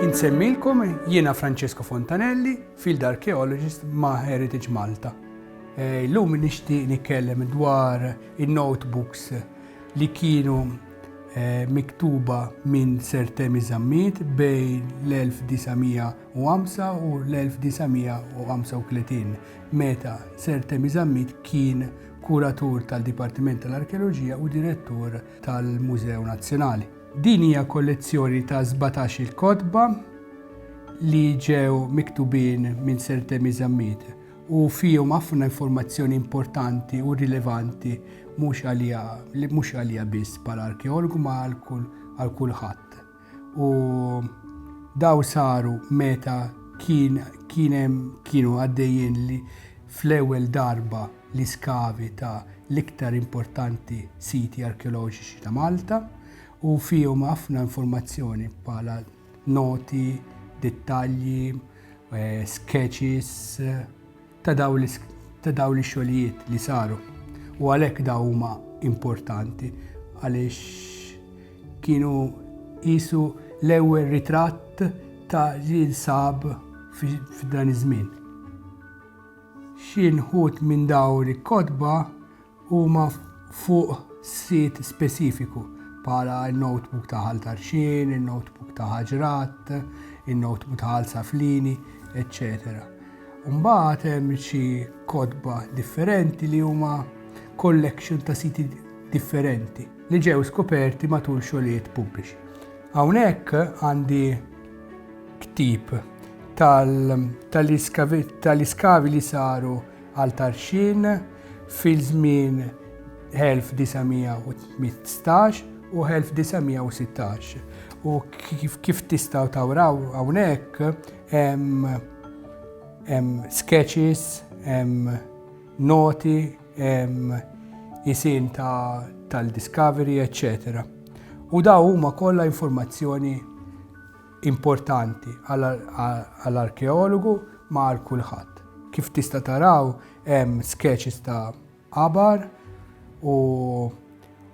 Insemmilkom jiena Francesco Fontanelli, Field Archaeologist ma' Heritage Malta. Eh, illum nixtieq nitkellem dwar in-notebooks li kienu miktuba minn Sir Temi Zammit bejn l-1905 u l-1935, meta Sir Temi Zammit kien Kuratur tal-Dipartiment tal-Arkeoloġija u Direttur tal-Mużew Nazzjonali. Din hija kollezzjoni ta' sbatax-il kotba li ġew miktubin minn Sir Temi Zammit u fihom ħafna informazzjoni importanti u rilevanti mhux għalija, li mhux għalija biss bħala arkeologu ma għal kulħadd. U daw saru meta kien kienem kienu għaddejjin li fl-ewwel darba li skavi ta' l-iktar importanti siti arkeoloġiċi ta' Malta u fihom ħafna informazzjoni bħala noti, dettalji, sketches ta' dawn ix-xogħlijiet li saru. U għalhekk dawn huma importanti għaliex kienu qisu l-ewwel ritratt ta' li nsab f'dan iż-żmien. Xi nħud minn dawn il-kotba huma fuq sit speċifiku, bħala n-notebook ta' Ħal Tarxien, in-notebook ta' Ħaġrat, in-notebook ta' Ħal Saflini, eċċetera. Mbagħad hemm xi kotba differenti li huma collection ta' siti differenti li ġew skoperti matul xogħlijiet pubbliċi. Hawnhekk għandi ktib tal-iskavi li saru għal Tarxien fi żmien 1915 u 1916. U kif tistgħu tawraw hawnhekk hemm hemm sketches, hemm noti, hemm isim tal-discovery, eċċetera. U daw huma kollha informazzjoni importanti għal arkeologu ma għal kulħadd. Kif tista' taraw hemm sketches ta' qabar u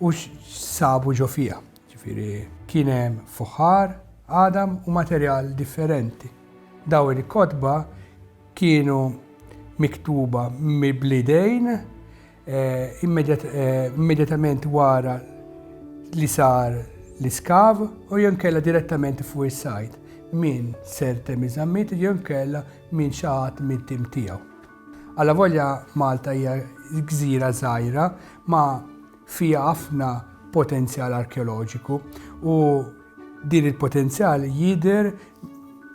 u x'sabu ġo fiha. Ġifieri kien hemm fuħar, għadam u materjal differenti. Dawn il-kotba kienu miktuba bl-idejn immedjatament wara li sar l-iskav u jew kella direttament fuq is-sajt minn sertem iżammit jew kella minn xi ħadd mit-tim tiegħu. Alla volja Malta hija gżira żgħira ma fiha ħafna potenzjal arkeoloġiku u din il-potenzjal jidher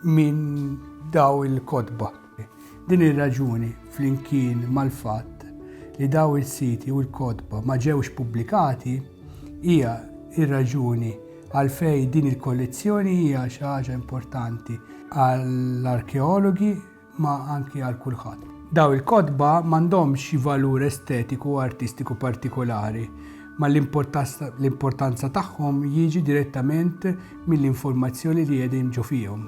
minn daw il-kotba. Din ir-raġuni, flimkien mal-fatt li dawn is-siti u l-kotba ma ġewx pubblikati, hija r-raġuni għalfejn din il-kollezzjoni hija xi ħaġa importanti għall-arkeologi ma anki għal kulħadd. Dawn il-kotba m'għandhomx valur estetiku u artistiku partikolari, ma l-importanza tagħhom jiġi direttament mill-informazzjoni li qegħdin ġo fihom.